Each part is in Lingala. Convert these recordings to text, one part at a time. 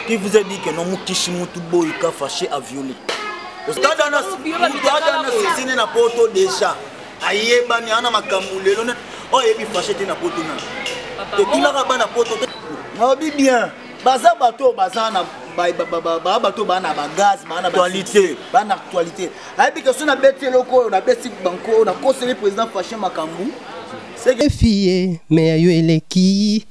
Qui vous a dit que non Mukishi Mutu Boyka fâché à violer Tadana Tadana Sisine na poto déjà ayebani ana makambo lelo ne oyo oh, ayebi fâché te na poto na totunaka bana poto te naobi bien baza bato oyo baza na baa bato baa na bagaz baa na actualité baa na actualité ayebi ke so nabeti eloko oyo nabeti banko oyo nakoseli président fâché makambo efiye me ya yo eleki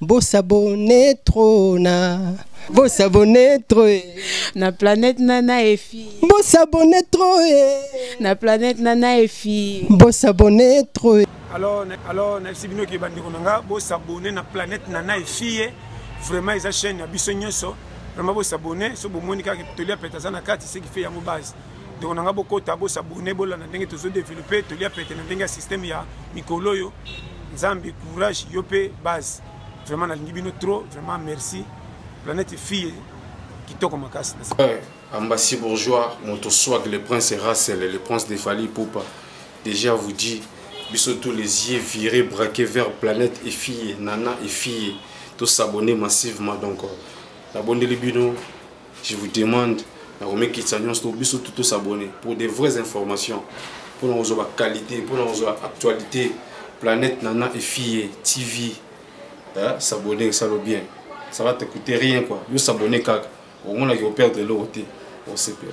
bosabone tro na bosabone tro e na planète nana efi bosabone tro e na planète nana efi bosabone tro e alors alors nayebisi bino ke bandeko na nga bosabone na planète nana efi ye vraiment eza chaîne ya biso nyonso vraiment bosabone so bomoni kaka toli ya pete aza na kati ce qui fait yango base ndeko na ngai bokota bosabone bolanda ndenge tozo developpe tolia pete na ndenge ya systeme ya mikolo oyo nzambe courage yo mpe base vraiment nalingi bino trop vraiment merci planète fille kitoko makasi eh, ambassy bourgeois moto swag le prince russel le prince de fali poupa déjà vous dit biso tous les yeux virés braqués vers planète et fille nana et fille tosabonne massivement donc euh, nabondeli bino je vous demande na komikitisa nyonso to biso tout tosabonne pour des vraies informations mpo na kozwa baqualité mpo na kozwa actualité planète nana efille tv hein? s'abonne esalo bien ça va te coûter rien quoi yo s'abonne kaka omonaki operdre eloko te osepela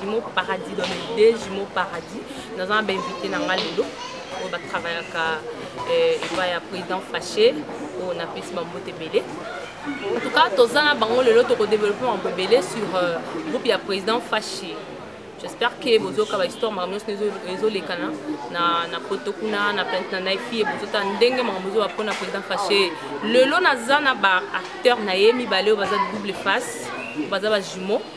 Jumeau Paradis dans les deux Jumeau Paradis naza na bainvité na nga lelo oyo batravayaka eh, epai ya président faché oyo napesi bambote ebele en tout cas toza na bango lelo tokodeveloppe mambo ebele sur euh, groupe ya président faché j'espère que bozoyoka bahistoire makambo nyonso ezolekana na poto kuna na plante na nai fie bozotala ndenge makambo ezoba mpo na président faché lelo naza na baacteur na ye mibale oyo baza double face baza bajumeau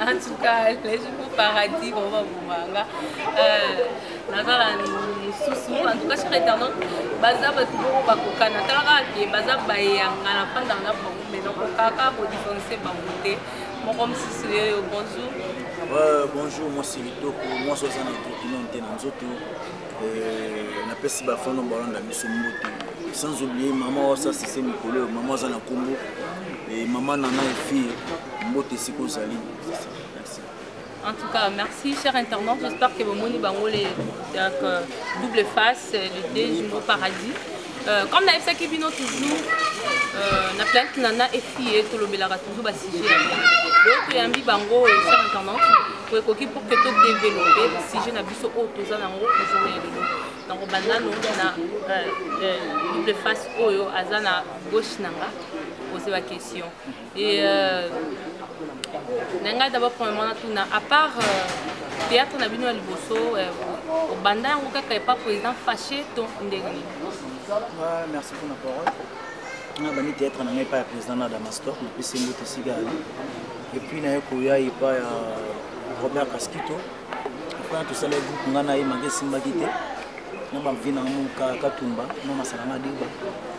en tout cas les jours au paradis vraiment bobanga naza na mosusu en tout cas sur internet baza bato moko bakokana tala kaka ke baza bayanga na fandaka na bango mai nakokaka kodifférencie bango te moko mosusu yeyo bonjour bonjour mwasi litoko mwasi aza na etrokino te na nzoto euh, napesi bafano balanda biso mbote sans oublier mama wasasise mikolo oyo mama aza na nkombo eh, mama nana efie mbote esika ozali En tout cas, merci, chers internautes. J'espère que vous avez euh, double face, euh, le déjeuner au paradis. Euh, comme nayebisaki bino toujours euh, na planète nana efie tolobelaka toujours basujet ya bien donc toyambi bango echar intendante ekoki pour que todeveloppe sujet na biso oyo toza nango journée ya lelo donc bandano na euh, double face oyo aza na gauche na nga pose baquestion Et euh, na ngai d'abord premièrement natuna à part euh, théâtre na bino ya liboso euh, obanda yango kaka epa président fâché to ndenge nini merci pour na parole na bandi théâtre na ngai epa ya président na damastor napesi mbote esika yali epuis naye koya epa ya robert kaskito apres na tosala groupe ngai na ye manga esimbaki te na bamvi na ngai moka katumba na masala na diba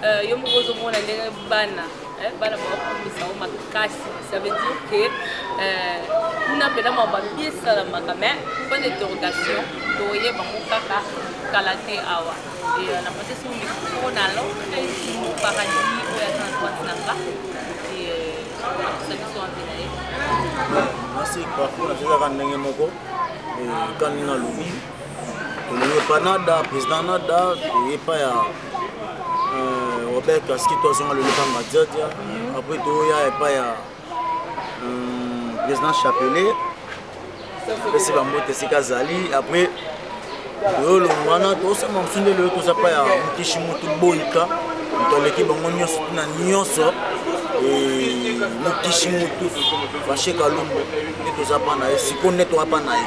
Euh, yo moko ozomona ndenge bana eh, bana bakokomisa yango makasi ça veut dire que euh, kuna mpena mwa babi esalamaka mais point d'interrogation toyeba ngo kaka kala te awa euh, na procesi moko na lokresi moparadi oyo aza na droite na nga akosa biso ampe na ye nasi parcours na tezaka ndenge moko kani na lobi tolingi epa nada président nada toye epa ya euh, robert kaski to azonga loleka madiadia mhm. après toya epa ya euh, président chapelet apesi bambote esika azali après oyo olongo wana tosema mosu nde lelo toza pa ya mokishi motu boyika moto aleki bango nyonso na nyonso mokishi motu fashe kalombo nde toza pa na ye sikoyo nde toza pa na ye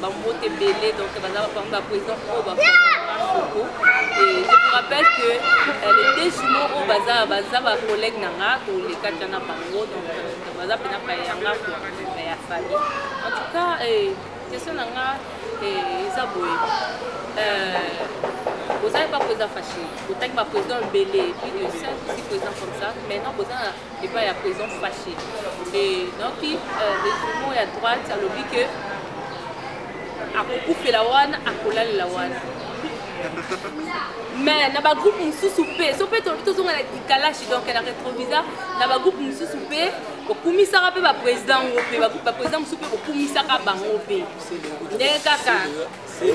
bambote ebele donc baza bapami baprésident oyo bafoko e je vous rappelle que euh, les deux jumeaux oyo baza baza bacollègue na nga toleka tya na bango donc euh, baza mpena paya ya nga kua euh, ya famille en tout cas question na nga eza boye bozali baprésident faché botangi baprésident ebele plus de 5 ou 6 président comme ça maintenant boza epai ya président faché et donc euh, le jumeau ya droite alobi ke akokufela wana akolalela wana mais na bagroupe mosusu mpe so mpe tolobi tozonga na dikalashi donc na retrovisa na bagroupe mosusu mpe kokumisaka mpe baprésident yango mpe baprésident mosusu mpe kokumisaka bango mpe ndenge kaka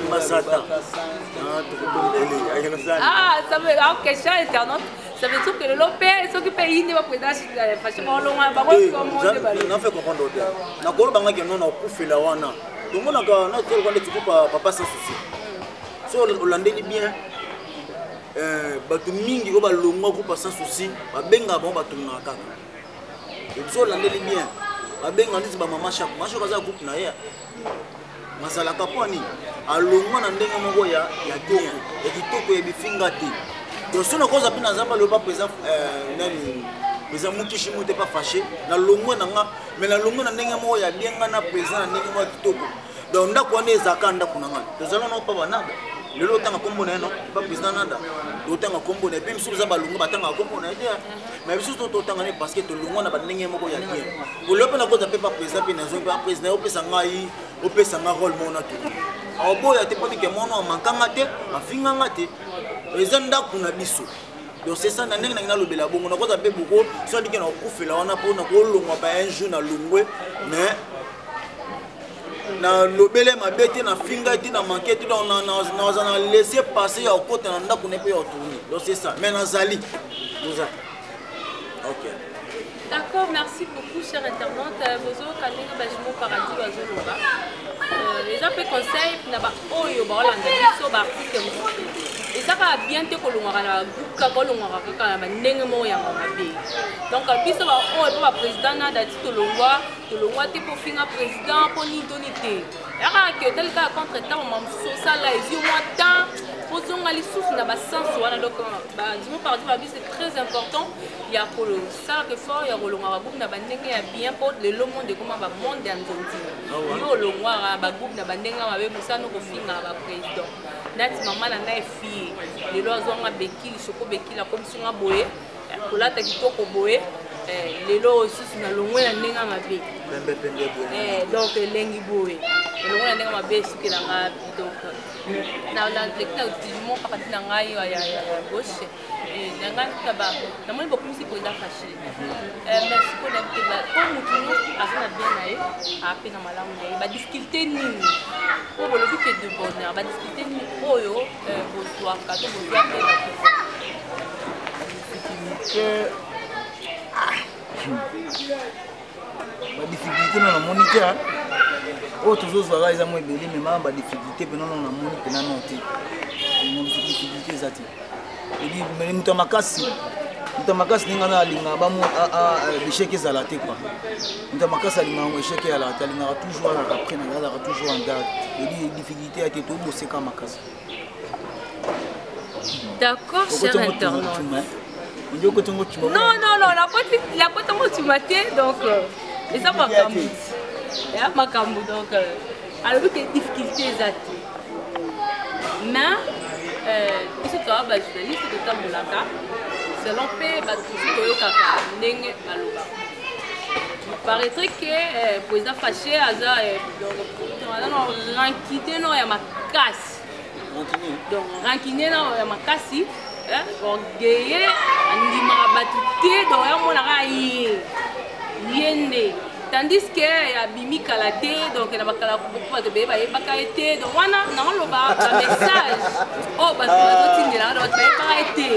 masata ah, ah, ah, ok charles internet Ça veut dire que le lopé, ce qui paye, il ne va pas être assis dans la fâche. Bon, l'on a pas compris comment on déballe. Non, fait comprendre l'autre. N'a pas le banga qui n'en a pas fait la wana. Donc, on a quand on a tel qu'on est type papa sans souci. Si on l'a dit bien, euh, bato mingi oyo balongwa groupe sans souci babengaka bango bato na kaka ebiso olandeli bien babenga ndeti bamama shako mashako aza groupe na ye mazalaka mpo nini alongwa na ndenge moko ya ya tongo ya kitoko ya bifinga te donc soki nakoza mpe naza baloba mpenza euh, nani mpenza mokishi mote pa fache nalongwe na nga mai nalongwe na ndenge moko ya bien nga na mpenza na ndenge moko ya kitoko donc ndako wana ezalaka ndako na ngai tozala nao pa banada lelo otanga nkombo na ye no pa président nada otanga nkombo na ye mpe misusu eza balongwe batangaka nkombo na ye te mais biso to totanga ne parce que tolongwa na bandenge moko ya bien olobi mpe nakota mpe baprésident mpe nazongi mpe baprésident opesa ngai opesa ngai role mona to aoboya te mpo tike mwana amankanga te afinganga te eza ndako na biso donc c'est ça na ndenge nangi nalobela bongo nakoza mpe boko so andike na kokufela wana mpo nakolongwa ba un jour na longwe mais nalobele mabe te nafingai te na manke te donc naza na laisse passe ya kokota na ndako ne mpe ya kotourni donc c'est ça mais nazali oza ok d'accord merci beaucoup cher internet euh, bozoyoka ndenge bajimo paradis bazoloba euh, eza mpe conseil na baoyo baolanda biso baartiste mosusu eza kaka bien te kolongwaka na bagroupe kaka olongwaka kaka na bandenge moko yango mabe donc biso baoyo mpe baprésident na dati tolongwa tolongwa te mpo finga président mpo nini toni te yaka ke otali kaka contre temps mama mosusu osala ezwi mwa temps ozonga lisusu na basense wana donc euh, badimo parti babi c'est très important ya kosalaka effort ya kolonga bagroupe na bandenge ya bien mpo lelo monde ekoma bamonde ya nzonzi ah yo olongwaka bagroupe na bandenge ya mabe mosano kofingaka baprésident nati mama na ngai fie lelo azwanga bekili soko bekili akomisi nga boye kolata kitoko boye eh, lelo oyo susu nalongwe na ndenge mabe eh, donc elengi boye elongo na ndenge mabe esukela nga donc naleki na utilisement kaka ti na ngai ya gauche namoni bokumisi mpenza fashile mais sikoyo nayebitela mpo motu nyonso aza na bien na ye ape na malamu na ye badifficulté nini mpo bolobi ke de bonheur badifficulté nini oyo badifficulté na namoni te oyo tozozwaka eza mwa ebele mema badifficulté mpe nono namoni mpe nano te difficulté eza te edi moto ya makasi moto ya makasi ndenge ana alinga bamo echec ezala te kua moto ya makasi alingaka ngo echec eyalaka te alingaka toujours azalaka près na azalaka toujours en garde edi difficulté te ya te toboseka makasi d'accord cher internaute non non non lakota ngo cuma te donc euh, eza makambo ya makambo donc euh, alobi ke difficulté eza te mais euh, biso toa bajournaliste totambolaka selon mpe bato mosusu toyokaka ndenge balobaka paraîtrait que euh, président faché aza euh, rankide nao ya makasi donc rankide nao ya makasi orgueille andimaka bato te donc yamonaka ye ye nde tandis que abimi kala te donc na bakala beaucoup bato beye bayebaka ye te donc wana naoloba bamessage oyo bato bazotindelaka donc bato bayebaka ye te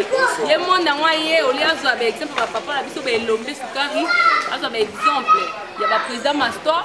ye monde yango aye olie azwa baexemple bapapa na biso baelombe sukari azwa baexemple ya baprésident mastor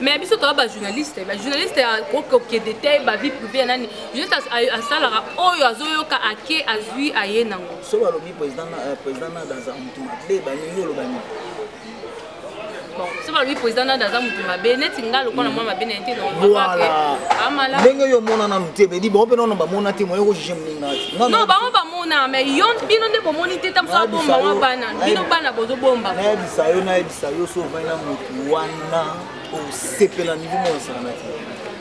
mais biso toza bajournaliste bajournaliste kokoke detail bavie privé ya nani juste asalaka oyo azoyoka ake azwi aye nango so balobi président euh, nada aza motu mabe balingi oloba nini so balobi président nada aza motu mabe neti nga lokola mwana mabe naye te ndenge oyo omona nanu te bedi bango mpe nono bamona te moye kojuge moninga non bango bamona mais yo bino nde bomoni te ntango so abomba mwa bana bino bana bozobombama nayebisa yo nayebisa yo so ovai na motu wana osepela niveau moko esalama te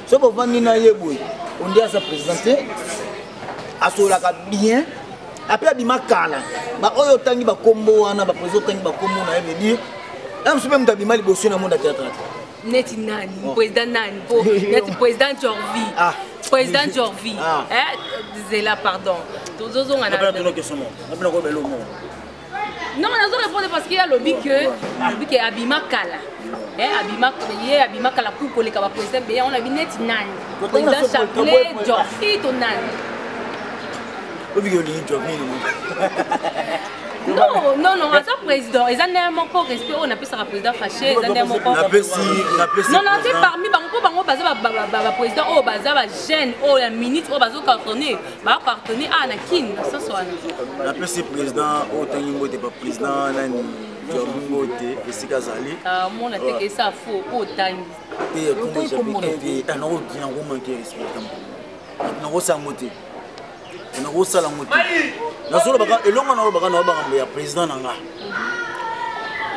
soki ovandi na ye boye ondi aza président te asololaka bien apres abima kala baoyo otangi bakombo wana baprésident otangi bakombo na ye veut dire na mosu mpe moto abima liboso na monde ya théâtre te neti nani oh. président nani po neti président jorvi ah. président jorvi ah. eh, zela pardon tozozonga na non nazo répondre parce que alobi que alobi que abima kala eh, abima ye abima kala ku koleka ba président beya on abi neti nani président chapelet jorfi to nani obiki olingi jorfi non non non aza président eza ndenge moko respect oyo napesaka président fache eza ndenge moko non non te parmi bango mpo bango baza baprésident oyo baza bajeune oyo ya minute oyo bazocartonne ba pardonner ah na kin na soso wana na pesi président oyo tangi mbote ba président nani jobu mbote esika azali ah mona te ke ça faux po tangi te kombo jabi te ta na ko kina ko manquer respect tam na ko sango te na ko sala ngo te na solo baka elonga na ko baka na ba ngambo ya président na nga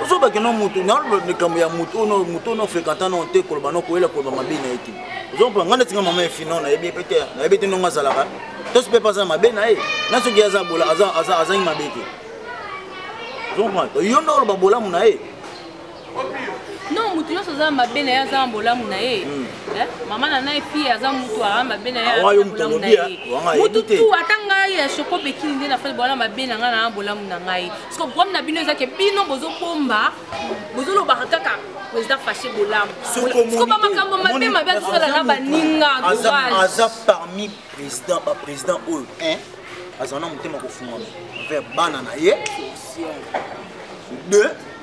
ozobake no motu naloba likambo ya motu ono motu ono fréquentant no te koloba no koyela koloba mabe na ye te ozompa ngai neti nga mama ya fino nayebi pe te nayebi te ndongo azalaka tosi mpe mpe aza mabe na ye na soki aza bola azangi mabe te ozompa yo nde oloba bolamu na ye non moto nyonso aza na mabe na ye aza na bolamu na ye hmm. eh, mama na nai fille aza motu aa mabe na yebolamu na ye motu tu ata ngai ya shoko bekini nde nafai bowana mabe na ngai na bolamu na ngai parceke problème na bino ezake bino bozobomba bozolobaka kaka président fache bolamu soko bamakambo mabe mabe azosala na baninga aza parmi président baprésident oyo azala na motema kofungama vers bana na ye deux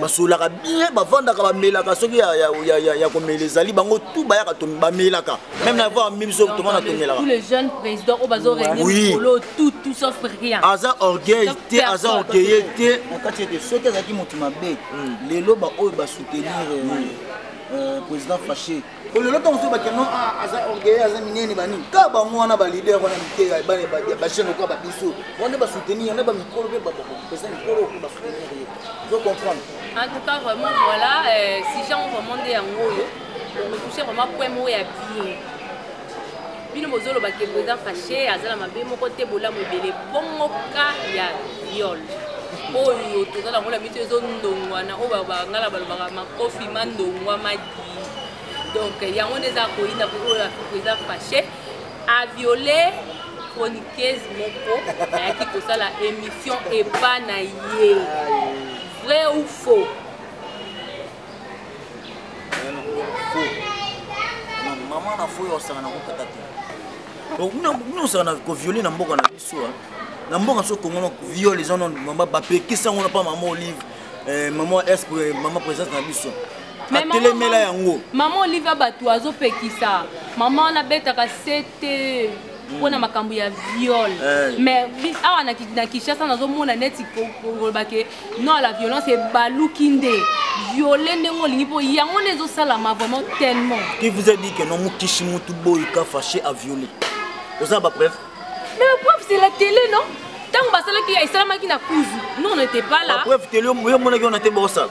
basololaka bien bavandaka bamelaka soki ya komela ezali bango tu bayaka bamelaka meme na voir mimi soki tomona tomelaka aza orgueil te aza orgueille te na kati ete soki azalaki moto mabe hmm. lelo baoyo basoutenir euh, hmm. euh, président faché bolelo ntango so bakeno ah, aza orgueil aza minene banini kaka bango wana balider wana mike ya bana bajeune okoa babiso wana basoutenir yana bamikolo mpe bapesa mikolo mpe basoutenir ye zo comprendre en tout cas vraiment voilà euh, sujet yango vraiment nde yango oyo omotouche vraiment point moko ya bien bino bozoloba ke président fache aza na mabe moko te bolamu ebele bongoka ya viol oyo toza nango na miso ezondongwana oyo bangala balobaka makofi mandongwa donc yango nde eza koyina po oyo afuku eza fache aviole chroniqueuse moko ayaki kosala émission epa na ye vrai ou faux mama na fo yo osangana kokata te donc bino osangana koviole na mboka na biso na mboka so kongo na viol eza nano mama bapekisi yango na mpa mama olive eh, mama es mama présence na biso atelemela yango mama olive ya bato azopekisa mama wana abetaka sete mpona mm. makambo ya viol eh. mais awa na kinshasa nazomona neti koloba ke non la violence ebaluki nde viole ndenge olingi mpo yango nde ezosalama vraiment tellement qui vous a dit que non mokishi motu boyika fache a viole oza bapreuve mais preuve c'est la télé non ntango basalaki esalamaki na kuzu non on était pas là preuve télé yo omonaki wana te bosala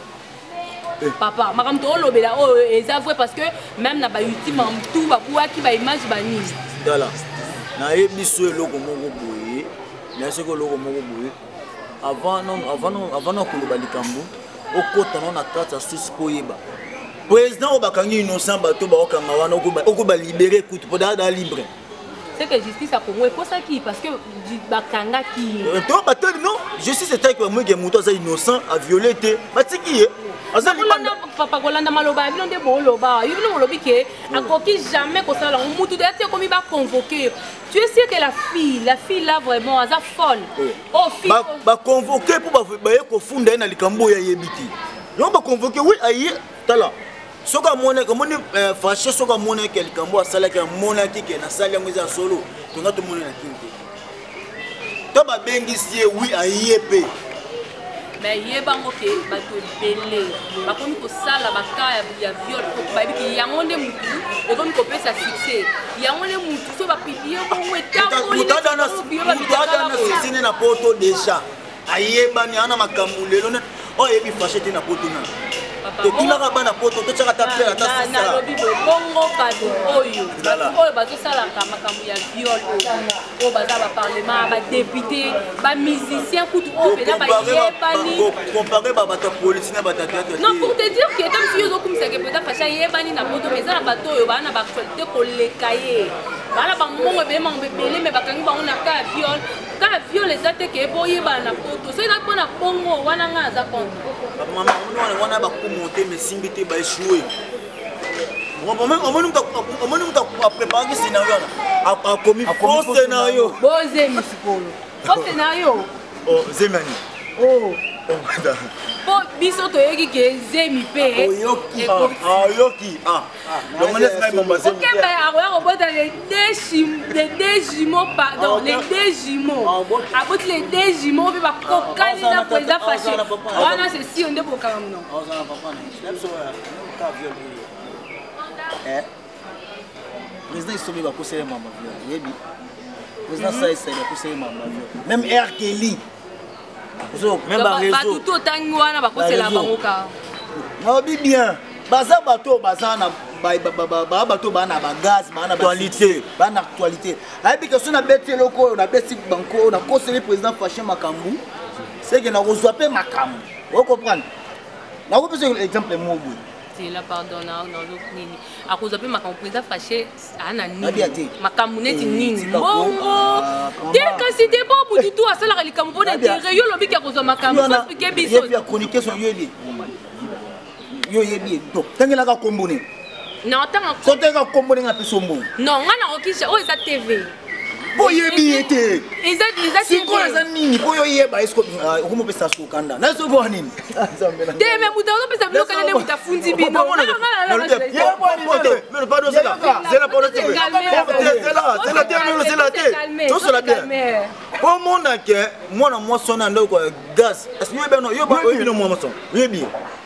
eh. papa makambo toolobela oyo oh, eh, eza vrai parce que même na bayoutube mamtu babuaki baimage banini tala nayebi so eloko moko boye naye soki eloko moko boye avant na koloba likambo okota no na kati ya susi mpo oyeba président oyo bakangi innocent bato baokanga wana okoba libere kutu mpo daa libre c'est que justice ya congo ekosaki parce que bakangaki ye euh, to batoli non justice etaki bamwege moto aza innocent aviole te batiki ye papa kolanda maloba ya bino nde booloba yo bino bolobi ke akoki jamais kosala yango motu deya te ekomi baconvoke yo tu es sûr que la fille la fille là vraiment aza folle oh, oh baconvoke mpo baye kofunda ye na likambo oyo ayebi te yango baconvoke wi aye tala soki amonaki omoni eh, fache soki amonaki likambo asalaki amonaki ke nasali yango eza solo tonga tomoni na kini te to babengisi ye wi aye mpe me yebango ke bato ebele bakomi kosala baka ya viol bayebi ke yango nde motu ekomi kopesa succès yango nde motu so bapiblie bongo etambolimoto adana succès nde na poto déjà ayebani ana makambo lelo oyo oh, ayebi fashe te na poto na totunaka bana poto totyaka ata pere ata nalobi bobongo bato oyo bato oyo bazosalaka makambo ya viol oyo baza baparlement badepute bamusicien kutu oyo mpena bayebanicompare babato ya polisi na bato ya teatre non pour te dire que ata misi yo ozokumisake mpena fashi ayebani na poto mais eza na bato oyo baa na baactualité koleka ye baa na bambongo ebele mango ebele me bakangi bango na ka ya viol kaka viole eza te ke boyebana na poto soki ezali mpo na bongo wana ngai aza konte bamama omoni wana bakumu te mesimbi te baeshue omoni moto apreparaki scenario wana akomi fo scenario bozemi sikolo fo scenario oh, zemi ani oh. oh, biso toyoki ke zemi mpe oyoki ah, ah, Okemba ya akoya kobota les deux jumeaux pardon les deux jumeaux aboti les deux jumeaux mpe bakokani na président fache wana c'est sûr nde bokanga mno président isomi bakosele mama viol yebi président saisai bakosele mama viol même r kelly bato to otangi wana bakosela bango ka naobi bien baza bato oyo baza na baa bato baa na bagaz baa na actualité baa na actualité ayebi ke so nabeti eloko oyo nabeti banko oyo nakoseli président fache makambo seke nakozwa mpe makambo okomprendre nakopesa exemple moboye tela pardon na nini akozwa mpe makambo président fache ana nini makambo neti eh, nini mbongo ah, te kasi te bo butu tu asalaka likambo mpo na intere yo olobi ke akozwa makambo sospike biso yo oyebi ye to tangelaka kombo nini na otanga soki toyeka kombo ndenge apesa ombongo non ngai nakokisha oyo eza tv mpo oyebi ye te sikoyo aza nini mpo yo oyeba okomopesa ah, sukanda na soki wana nini te me moto azopesa bilokana nde moto afundi bino tosola bien omona ke mwana mwasi wana ndeko ya gaz yo bino mwa maso oyebi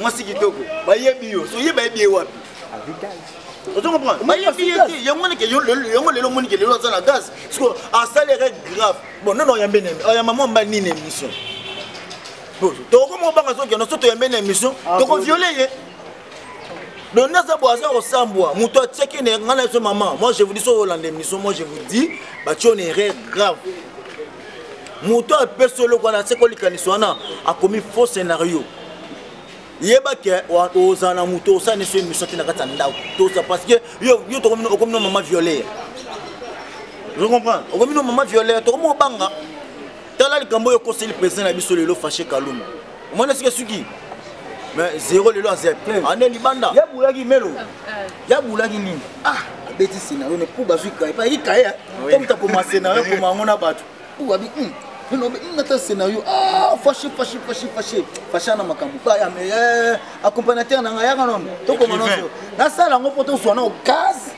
mwasi kitoko bayebi yo soye bayebi ye wapi ozo comprendre bayebi ye te yango wana yango lelo omoni ke lelo aza na gaz parceke asali erreur grave bon nono oyambe nemi oyamba mwa mba nini émission tokoma obanga zokende so toyambe na émission ah, tokoviole ye donc naza bo aza kosambwa moto atiaki na ngai na biso mama moi je vous dis so olanda émission moi je vous dis batio na erreur grave moto oyo apesi oloko wana aseki olikanisi wana akomi faux scénario yeba ke ozala na moto osani so émission te na kati ya ndako toza parce que yo okomi no mama violeur je comprends okomi no mama violeur tokomi obanga tala likambo oyo ekoseli président na biso lelo fache kaluma omona esika esuki mais zero lelo aza ane libanda yabulaki melo eh, eh. yabulaki nini ah, abeti scenario ne puba azwi kaye pa yaki kaye comme takoma scenario akoma yango na bato puba bi hmm. elobi hmm, ata scénario ah, fache fache fache fache fache ana makambo baya me eh, accompagnateur na ngai yaka nono tokoma nonso nasala yango mpo tozwa nao gaz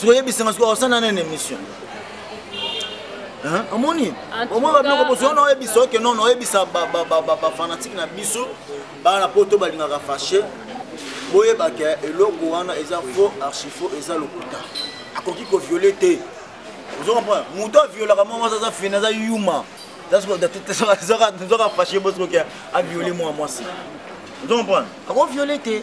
sikoyebisanga sikoyo osana nene émission omoni omoni babiloko bozwa na oyebisa oke nono oyebisa bafanatike na biso bana na poto balingaka fache boyebaka eloko wana eza faux archifaux eza lokuta akoki koviole te ozo comprendre moto aviolaka mwa mwasi aza fini aza yuma zoka fache bosoki aviole mwa mwasi ozo comprendre akoviole te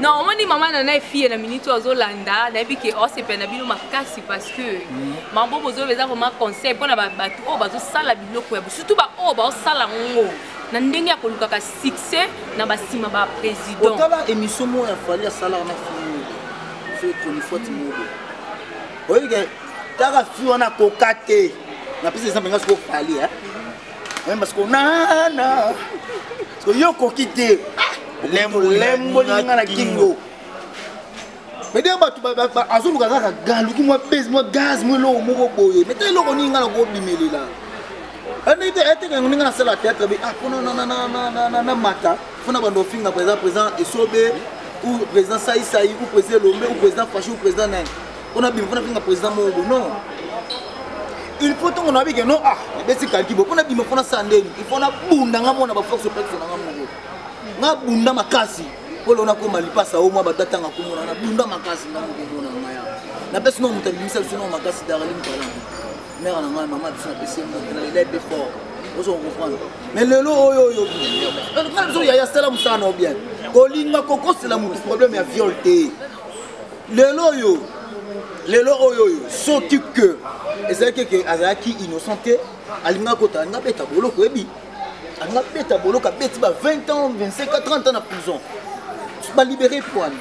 non omoni mama na nai fille na minute oyo azolanda nayebi ke osepela na bino makasi parce que mhm. mambo bozoloba eza vraiment conseil mpona bato oyo bazosala biloko ya surtout baoyo baosala ngo na ndenge ya kolukaka succès na basima ba président otala émission moko ya fali asalaka na fille fe chronifuati mobo oyebike taka fille wana koka te napesi exemple nga soko fali Même parce qu'on a na. Parce que yo koki te. Lembo lembo linga na kingo. Mais d'ailleurs bato azoluka kaka galuki mwa pese mwa gaz mwa eloko moko boye mais te eloko nini nga na kobimelela ndenge eh, eteke yango ndenge nasala théâtre be ah mpona na mata mpona bando ofinga président président esobe ou président saisai ou président elombe ou président fashi ou président nani mpona bima mpona finga président moko bo non il faut ntongo nayebi ke non ah ebeti kalki bo mpona bima mpona sala ndeni il faut nabunda nga mona baforce opexe na nga moko nabunda makasi mpo leo nakoma lipasa o mwa bata ntanga komona nabunda makasi nga moko mona ngaya napesi nao moto abimisa biso nao makasi darlin talante mare na ngai mama biso napesi ye moto na lelai mpe fort ozo comprendre mais lelo oyo oyo ngai biso yaya sala mosala na yo bien kolinga kokosela motu problème ya viol te lelo oyo lelo oyo oyo soki ke ezalaki ke azalaki innocent te alinga kota alinga beta boloko ebi alinga beta boloko abeti ba 20 ans 25 à 30 ans na prison balibere pwani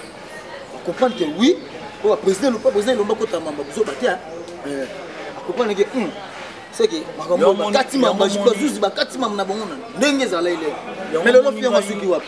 acomprendre ke oui oyo baprésident elopa président elomba kota mamba buzoba te acomprendre ke seke makambo bakati mamba bazuzi bakati mamba na bango na ndenge ezala elele me lelo fiyango asuki wapi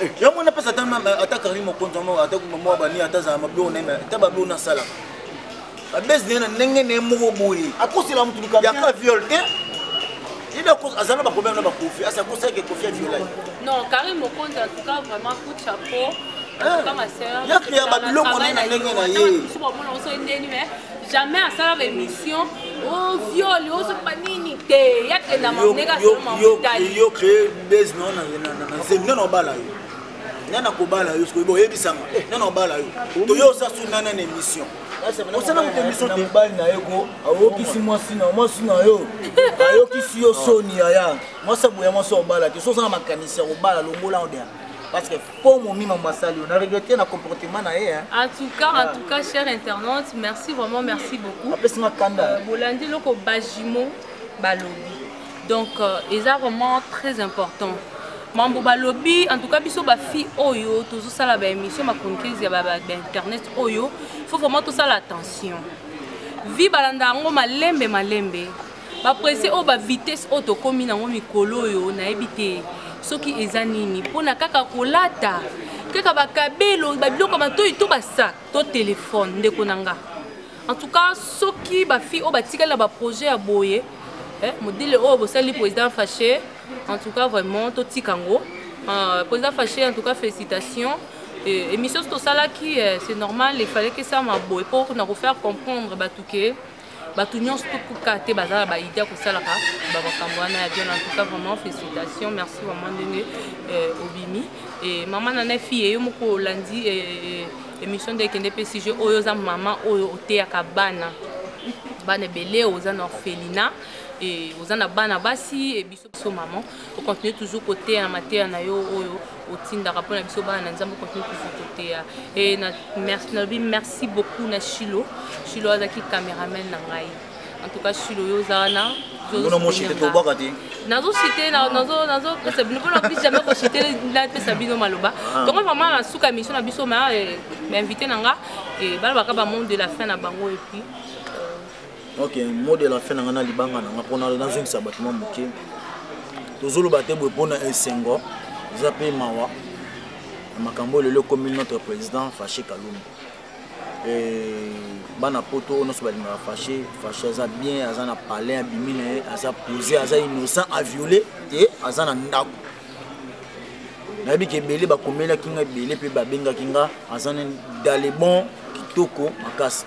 Eh, yango wana mpesa ata karine mokonzi yango ata mwa bani ata azala mabio na ata babio nasalaka babesi na ye na ndenge na ye moko boye akosela motu likamboyaka viole te yebe aza na baproblème na bakofi asi akosalaki ekofi ya violai non karine mokonzi en tout cas vraiment coup de chapeau yakreya babiloko na ye na ndenge na ye jamais asalaka émission oviole oh, ozoba oh, nini te yakenda mamnekayo créer base no na zemi nano obala yo nani akobala yo soki boyebisanga eh, nani obala yo toyo oza su nani na émission osala moto émission te mobali na ye ko ayokisi mwasi na mwasi na yo ayokisi yo soni yaya mwasi aboya mwasi obala te so ozanga makanisi ya kobala longola odea parce que po momi mambo asali yo na regrete na comportement na ye en tout cas en ah. tout cas cher internaute merci vraiment merci beaucoup apesi nga kanda euh, bolandi eloko bajimo balobi donc euh, eza vraiment très important mambo balobi en tout cas biso bafille oyo tozosala baémission machroniqueuse ya bainternet oyo faut vraiment tosala attention vi balanda yango malembe malembe bapresse oyo bavitesse oyo tokómi nango mikolo oyo nayebi te soki eza nini mpona kaka kolata kaka bakabelo babiloko ya matoi to basak to telefone ndeko na nga en tout cas soki bafille oyo batikali na baprojet ya boye eh, modele oyo bosali président fache en tout cas vraiment totika yango euh, président fache en tout cas félicitations émission soki tosalaki eh, c'est normal il fallait que ça maboye mpo na kofaire comprendre bato ke bato nyonso tokuka te baza na baide ya kosalaka bamakambo wana ya bien en tout cas vraiment félicitation merci vraiment ndenge euh, obimi e mama na na fille yo moko olandi e, e, émission nde ekende mpe sujet oyo oza mama oyo oteyaka bana bana ebele oza na orphelina e oza na bana basi biso maman ocontinue toujours koteya na mateya na yo oyo otindaka mpo na biso bana na nzambe ocontinue toujours koteya e nalobi merci beaucoup na shilo shilo azalaki cameraman na ngai en tout cas shilo yo oza wana nazosite nazopesa bino mpona plus jamais kosite napesa bino maloba ah. tongo vraiment na suka émission na biso ma eh, bainvité na nga eh, balobaka bamonde de la fin na bango epuis ok mot de la fin na ngai na libanga na ngai mpona nazongisa bato mwa moke tozoloba te boye mpona esengo eza mpe mawa na makambo oyo lelo ekomi notre président fache kalumba bana poto oyo nyonso balingaka fache fache aza bien aza na palais abimi na ye aza posé aza innocent aviole te aza na ndako nayebi ke ebele bakomelaki nga ebele mpe babengaki nga aza na dalebon kitoko makasi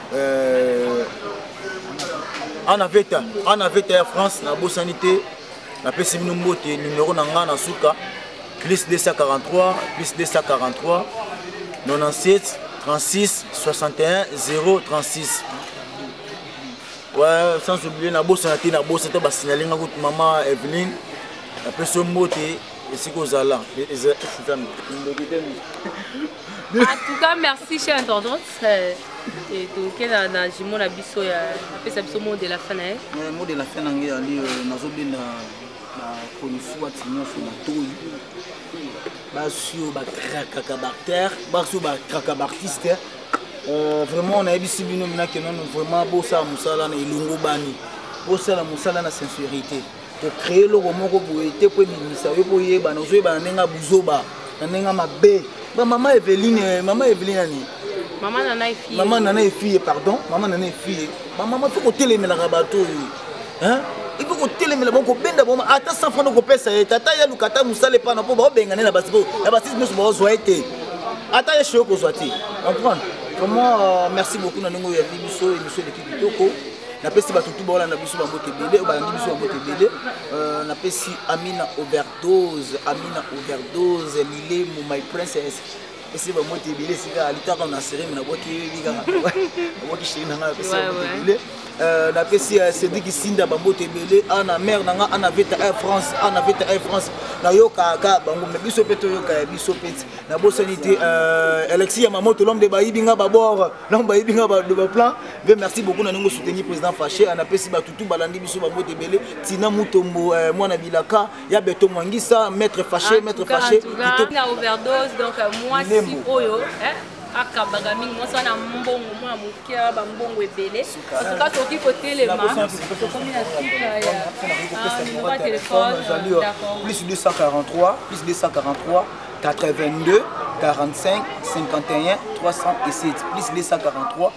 euh, ana veta ana veta ya france nabosani te napesi bino mbote numero na ngai na suka plus 243 plus 243 97 36 61 036 ouais, sans oublier nabosana te nabosa te basignale nga kutu mama eveline napesi yo mbote esika ozala en tout cas merci chère intendante euh, toke na, na jimo na biso ya apesa biso mot de la fin na ye eh, mot de la fin na ngai ali euh, nazobenda bakonfuati nyonso matoi basi oyo bakrakaka bartère basi oyo bakrakaka baartiste euh, vraiment nayebisi bino minakenono vraiment bosala mosala na elongobani bosala mosala na sincérité kocree eloko moko boye te mpo ebimisa yo mpo oyebana ozoyebana ndenge ya buzoba na ndenge ya mabe bamama eveline mama eveline ani mama nana efie mama nana efie pardon mama nana efie bamama mpe kotelemelaka bato oyo il faut kotelemela bango kobenda bango ata san fana okopesa ye tata ye aluka ata mosala epana mpo baobengane na basi na basisi nyonso baozwa ye te ata ye shoyo kozwa te comprendre vraiment euh, merci beaucoup na ndenge oyo yambi biso emission eleki kitoko napesi bato tu baolanda biso bambote ebele oyo balandi biso bambote ebele euh, napesi amina overdose amina overdose lilemu my princess esi bambote ebele esika alitaka na sereme nabwaki yebi kaka nabwaki sheri na ngai napesi bambote ebele euh, napesi euh, cedrik isinda bambote ebele ana ah, mare na ngai ana ah, veta air france ana ah, veta air france nayokaka kaka bango me biso mpe toyoka ya biso mpe ti nabosani te alexis ya mamoto lomde bayibi ngai babor lombe bayibi ngai baplan mpe merci beaucoup na ndenge osoutenir président fache anapesi bato tu balandi biso babote ebele tina mutombo euh, mwana bilaka ya beto mwangisa maître fache maître fache na overdose donc euh, mwasi oyo akabaka mingi mwasi wana mbongo mwana moke ya bambongo ebele antuka tokoki kotelema tokomi na suka ya nimero ya telefone plus 243 plus 243 82 45 51 307 plus 243